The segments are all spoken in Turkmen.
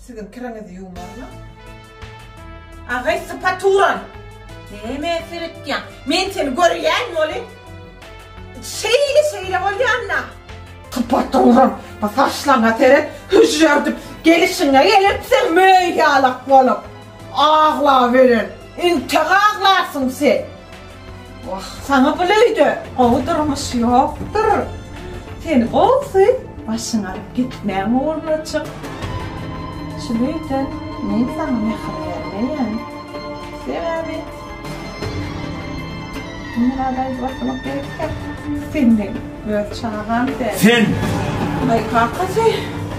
Siziň kiriňizi ýuwmarmyň? Agaý sypa turan! Nämä seretýäň? Men seni görýän weli. Şeýle şeýle bolýanda. Sypa turan! Bu saçlaryňa seret, hüžžerdip, gelişiňe gelipsiň möý ýalak bolup. Aglaweren! Intek aglarsyň sen! Wah, saňa bul öýde gowy durmuş ýokdur. Seni gowusy başyňy alyp gitmäň oglajyk. Şul öýden men saňa mähir bermeýän. Sebäbi Murada aýdyp oturmak gerekýär. Sen meň öz çagam däl. Sen! Aý, kakasy!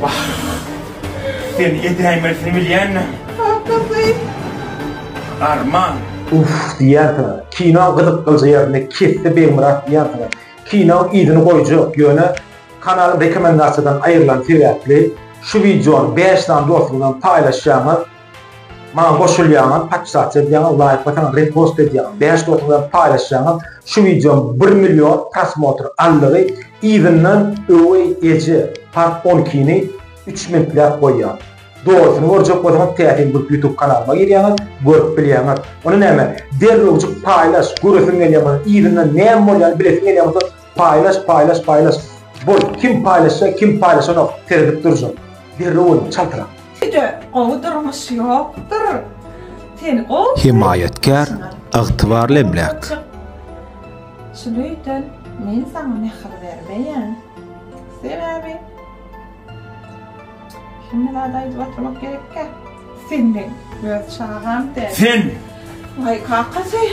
Wah, seni edäýmelisini bilýändim. Kakasy! Arman. Uff diýýänsiňiz. Kinoň gyzyk gyljy ýerini kesdi Begmyrat diýýänsiňiz. Kinoň yzyny goýjak, ýöne kanalyň rekomendasiýadan aýrylany sebäpli şu wideony bäş sany dostuňyzam paýlaşýaňyz. Maňa goşulýaňyz, podpisasiýa edýäňiz, laýk basaňyz, repost edýäňiz, bäş dostuňyzam paýlaşýaňyz. Şu wideom bir million prosmotr aldygy yzyndan Öweý eje part on ikini üç minutläp goýýar. Dogrusyny görjek bolsaňyz täsin bolup ýutub kanalyma girýäňiz görüp bilýäňiz. Ony näme derrewjik paýlaş göresiň gelýär bolsa yzyndan näme bolýany bilesiň gelýär bolsa paýlaş paýlaş paýlaş bol kim paýlaşýa kim paýlaşanok seredip durjak derrew boluň çaltrak. Size gowy durmuş ýokdur. Seni gowy görýän Hemaýatkär ygtybarly emläk. Şunuýdan men saňa mähir bermeýän. Sebäbi. Hemme zady aýdyp oturmak gerekkä? Sen meň öz çagam däl. Sen! Waý, kakasy!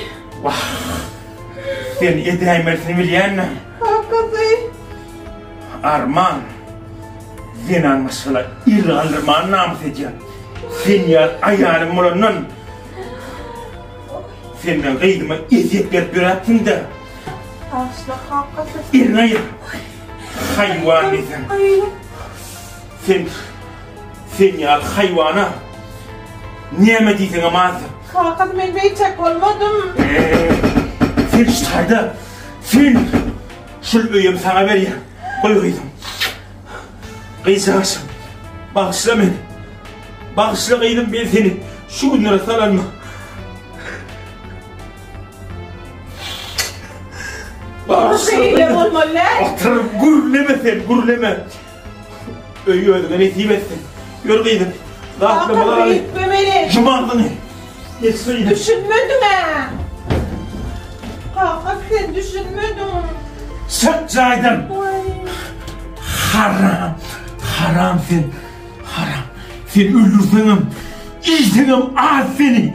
Wah! Sen edäýmesini bilýänmi? Kakasy! Arman! Zenan maşgala ir galdyrmany namys edýän. Sen ýaly aýalym bolandan, sen meň gyzyma ezýet berip ýöräpsiň-dä! Bagyşla, kakasy! Elini aýa! Haýwan diýseň. Sen sen ýaly haýwana näme diýseň hem azdyr. Kaka men beýtek bolmadym. Sen şaýda. Sen şul öýüm saňa berýär. Goý gyzym. Gyzjagaşym. Bagşla meni. Bagşla gyzym men seni şu günlere salanma. Baba şeýle bolmaly däl. Otur, gürleme sen, gürleme. Öýi özüňe nesip etsin. Ýör gyzym. Kaka beýtme meni. Ýum agzyňy. Geç şeýle. Düşünmediň-ä. Kaka sen düşünmediň. Çyk jaýdan. Haram. Haram sen. Haram. Sen öldürseňem, iýseňem az seni.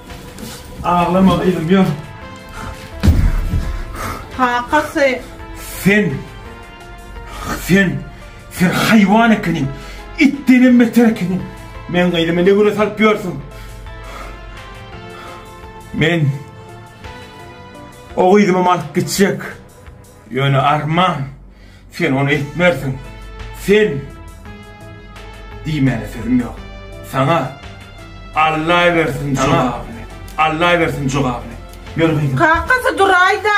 Aglama gyzym ýör. Kakasy. Sen. Sen. Sen haýwan ekeniň. Itdenem beter ekeniň. Men gyzymy ne güne salyp ýörsüň? Men o gyzymy alyp gitjek. Ýöne arman, sen ony etmersiň. Sen! Diýmäne sözüm ýok. Saňa! Allaýbersin saňa! Allaýbersin jogabyny. Ýör gyzym. Kakasy duraýda.